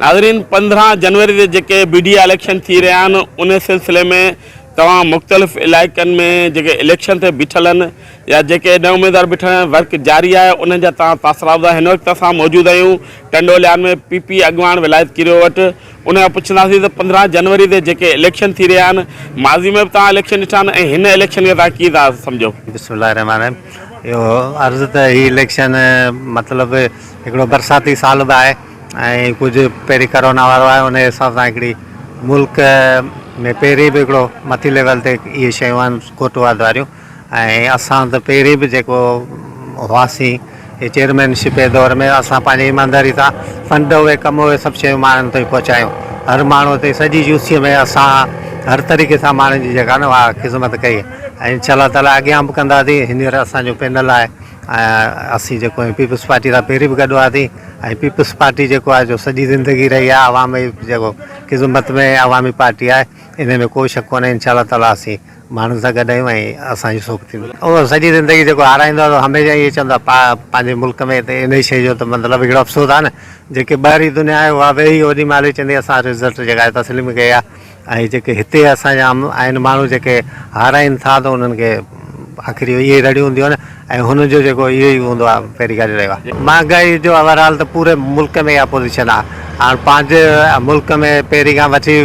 ناظرين پندرهن جنوري تي جيڪي بيڊي اليڪشن ٿي رهيا آهن ان سلسلي ۾ توهان مختلف علائقن ۾ جيڪي اليڪشن تي بيٺل آهن يا جيڪي نئين اميدوار بيٺل آهن ورڪ جاري آهي انهن جا توهان تاثرات ٻڌايو هن وقت اسان موجود آهيون ٽنڊوليان ۾ پي پي اڳواڻ ولايت ڪريو وٽ ان کان پڇنداسين ته پندرهن جنوري تي جيڪي اليڪشن ٿي رهيا آهن، ماضي ۾ به توهان اليڪشن ڏٺا آهن ۽ هن اليڪشن کي توهان ڪيئن ٿا سمجهو؟ بسم الله الرحمٰن الرحيم اهو عرض ته هي اليڪشن مطلب هڪڙو برساتي سال به آهي ۽ ڪجهه پهرين ڪرونا وارو آهي ان حساب سان هڪڙي ملڪ ۾ پهرين به هڪڙو مٿي ليول تي اهي شيون آهن ڪوٽ واڌ واريون ۽ اسان ته پهرين به جيڪو هئاسين هي چيئرمين شپ جي دور ۾ اسان پنهنجي ايمانداري سان فنڊ اهي ڪم اهي سڀ شيون ماڻهن تائين پهچايون هر ماڻهو تائين سڄي يو سي ۾ اسان هر طريقي سان ماڻهن جي جيڪا نه اها خدمت ڪئي ۽ انشاء الله تعالٰي اڳيان به ڪنداسين هينئر اسان جو پينل آهي ۽ اسين جيڪو آهي پيپلز پارٽي سان پهرين به گڏ هئاسين ۽ پيپلز پارٽي جيڪو آهي جو سڄي زندگي رهي آهي عوام جي جيڪو خدمت ۾ عوامي پارٽي آهي ان ۾ ڪو شڪ ڪونهي انشاء الله تعالٰي اسين ماڻهن سان گڏ آهيون ۽ اسان جون سوک ٿينديون. اهو سڄي زندگي جيڪو هارائيندو آهي سو هميشه اهو چوندو آهي ته پنهنجي ملڪ ۾ ته انهي شيء جو ته مطلب هڪڙو افسوس آهي نه جيڪي ٻاهرين دنيا آهي اها ويهي اوڏي مهل ئي چوندي اسان رزلٽ جيڪا آهي تسليم ڪئي آهي ۽ جيڪي هتي اسان جا آهن ماڻهو جيڪي هارائين ٿا ته انهن کي آخر اهو ئي رڙيون هونديون آهن نه ۽ هن جو جيڪو اهو ئي هوندو آهي پهرين کان رهيو آهي. مهانگائي جو اوورآل ته پوري ملڪ ۾ اها پوزيشن آهي هاڻ پنهنجي ملڪ ۾ پهرين کان وٺي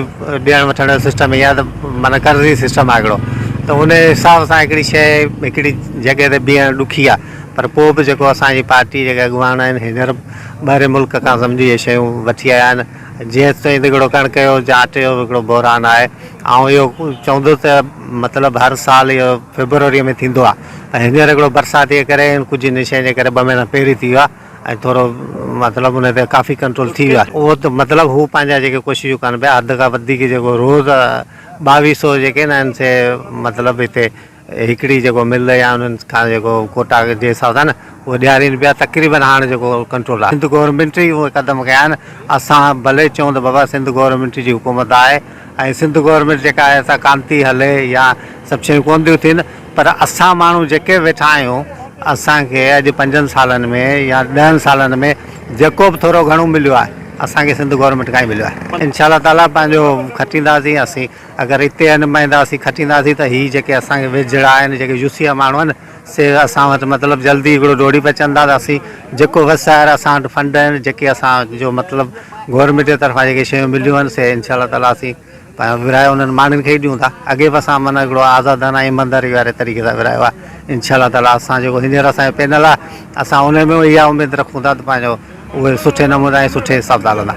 ڏيڻ وٺڻ جو سسٽم هي آهي ته معنيٰ قرضي سسٽم آهي هڪڙو ته ان حساب سان هڪڙي شيء هڪڙي جڳهه تي بيهڻ ڏکي آهي پر پوء به جيڪو اسان جي پارٽي جيڪي اڳواڻ آهن هينئر ٻاهرين ملڪ کان سمجهي اهي شيون وٺي آيا آهن جيئن تيئن ته هڪڙو ڪڻڪ جو جا اٽي جو هڪڙو بحران آهي آئون اهو چوندس ته مطلب هر سال اهو فيبروري ۾ ٿيندو آهي ۽ هينئر هڪڙو برسات جي ڪري ۽ ڪجهه انهي شين جي ڪري ٻه مهينا پهرين ٿي ويو آهي ۽ ٿورو مطلب انهي تي ڪافي ڪنٽرول ٿي ويو آهي اهو ته مطلب هو پنهنجا جيڪي ڪوششون ڪن پيا حد کان وڌيڪ جيڪو روز ٻاويهه سو جيڪي ناهن سي مطلب هتي هڪڙي جيڪو مل يا انهن کان جيڪو ڪوٽا جي حساب سان نه اهو ڏيارين پيا تقريبن هاڻ جيڪو ڪنٽرول آهي سنڌ گورنمينٽ ئي اهي قدم کنيا آهن اسان ڀلي چئون ته بابا سنڌ گورنمينٽ جي حڪومت آهي ۽ سنڌ گورنمينٽ جيڪا آهي سا ڪانه ٿي هلي يا سڀ شيون ڪونه ٿيون ٿين پر اسان ماڻهو جيڪي ويٺا آهيون اسان کي اڄ پنجن سالن ۾ يا ڏهن سالن ۾ جيڪو به ٿورو گهڻو مليو آهي اسان کي سنڌ گورنمينٽ کان ئي مليو آهي انشاء الله تعالي پنهنجو کٽينداسين اسين اگر هتي نمائنداسين کٽينداسين ته هي جيڪي اسان کي ويجهڙا آهن جيڪي يوسيا ماڻهو آهن سي اسان وٽ مطلب جلدي هڪڙو ڊوڙي پچن ٿا ته اسين جيڪو وس آهر اسان وٽ فنڊ آهن جيڪي اسان جو مطلب گورمينٽ جي طرفان جيڪي شيون مليون آهن سي انشاء الله تعالي اسين پنهنجو ورهايو انهن ماڻهن کي ئي ڏيون ٿا اڳي به اسان معنيٰ هڪڙو آزادانه ايمانداري واري طريقي سان ورهايو آهي انشاء الله تعالي اسان جيڪو هينئر اسان جو پينل آهي اسان ان ۾ اها اميد رکون ٿا ته پنهنجو اهي سٺي نموني ۽ سٺي حساب سان هلندا.